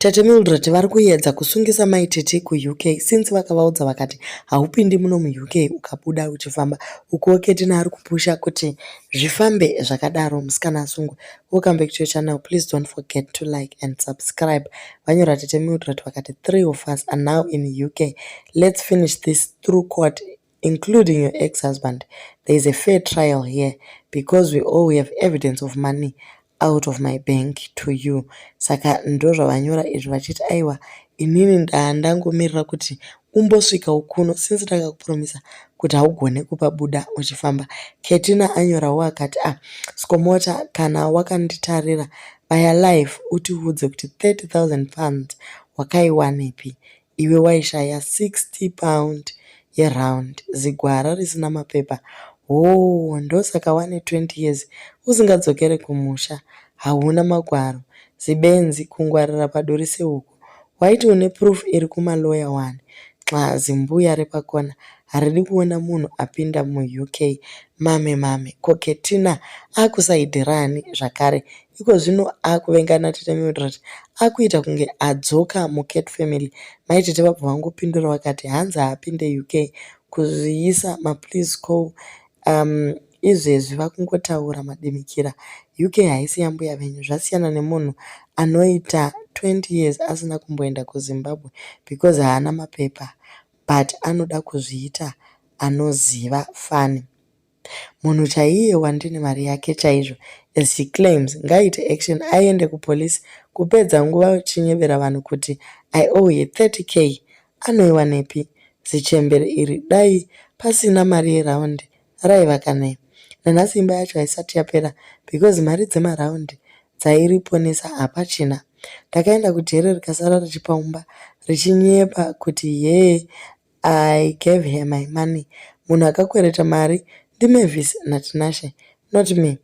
Tete Mildred vari kuyedza kusungisa mai Tete kuUK since vakavaudza vakati haupindi muno muUK ukabuda uchifamba ukuwo Ketina ari kupusha kuti zvifambe zvakadaro musikana asungwe. Welcome back to your channel please don't forget to like and subscribe. Vanyora Tete Mildred vakati three of us are now in UK let's finish this through court including your ex husband there is a fair trial here because we all we have evidence of money out of my bank to you saka ndozvavanyora izvi vachiti aiwa inini ndandangomirira kuti umbosvika ukuno since ndakakupromisa kuti haugone kupa buda uchifamba ketina anyorawo akati ah skomota kana wakanditarira baya life utiudze kuti 30 000 pounds wakaiwanepi Iwe waishaya 60 pound yeround zigwara risina mapepa hoo ndosaka wane 20 years usingadzokere kumusha hauna magwaro zibenzi kungwarira paduri sehuku waiti une proof iri kuma lawyer wani nxa zimbuya repakona haridi kuona munhu apinda muUK mame mame ko Ketina akusaidirani zvakare Ikozvino akuvengana tete Mildred akuita kunge adzoka muCat family. Mai tete vabva vangopindura vakati, hanzi haapinde UK kuzviisa mapliz ko umm izvezvi vakungotaura madimikira. UK haisi yambuya venyu zvasiyana nemunhu anoita 20 years asina kumboenda kuZimbabwe because haana mapepa but anoda kuzviita anoziva fani. Munhu chaiye wandini mari yake chaizvo as she claims ngaaite action aende kupolice kupedza nguva uchinyebera vanhu kuti I owe her 30k anoiwanepi zichembere iri dai pasina mari yeround raiva kani nanhasi imba yacho haisati yapera because mari dzemaround dzairiponesa hapachina. Ndakaenda kujere rikasara richipaumba richinyepa kuti hee I gave her my money munhu akakwereta mari ndiMavis naTinashe not me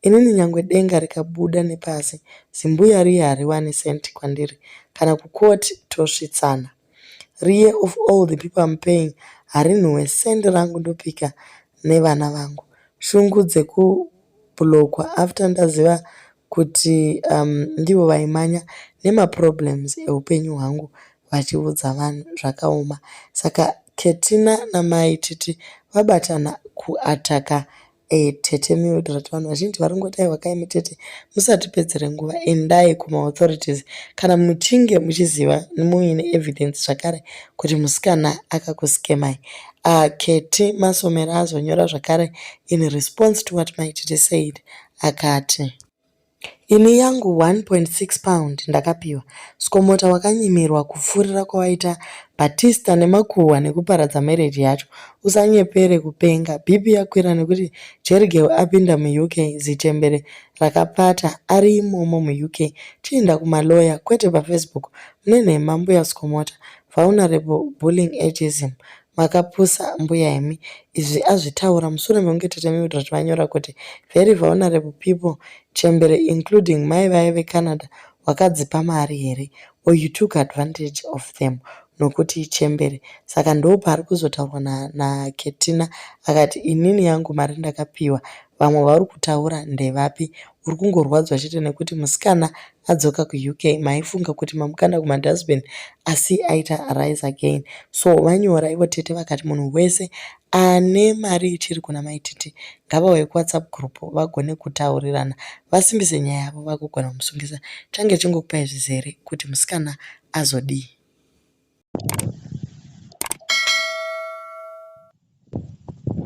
inini nyangwe denga rikabuda nepasi zimbuya riye hariwani cent kwandiri kana kucourt tosvitsana riye of all the people I'm paying harinhuwe cent rangu ndopika nevana vangu shungu dzekublokwa after ndaziva kuti um, ndivo vaimanya nemaproblems eupenyu hwangu vachiudza vanhu zvakaoma saka Ketina namai Titi vabatana ku attacker tete Mildred vanhu vazhinji vari kungoti aiwa kai mutete musatipedzere nguva endai kuma authorities kana muchinge muchiziva muine evidence zvakare kuti musikana akakuskemai uh, Keti Masomera azonyora zvakare in response to what mai Titi said akati Ini yangu 1.6 pound ndakapiwa. Skomota wakanyimirwa kupfuurira kwawaita Batista nemakuhwa nekuparadza marriage yacho. Usanyepere kupenga. BP yakwira nekuti Jerigirl apinda muUK zichembere rakapata ari imomo muUK. Chiinda kumalawyer kwete paFacebook. Mune nhema mbuya Skomota. Vulnerable bullying ageism. Makapusa mbuya imi. Izvi azvitaura musure mekunge tete Mildred vanyora kuti very vulnerable people chembere including mai vaye veCanada wakadzipa mari here or you took advantage of them nokuti ichembere saka ndooparikuzotaurwa na na Ketina akati inini yangu mari ndakapiwa vamwe vaurikutaura ndevapi uri kungorwadzwa chete nekuti musikana adzoka kuUK maifunga kuti mamukanda kumadustbin asi aita rise again so vanyora ivo tete vakati munhu wese ane mari ichiri kuna maititi ngavauye kuwhatsapp group vagone kutaurirana vasimbise nyaya yavo vakugona kumusungisa change chingokupai zvizere kuti musikana azodii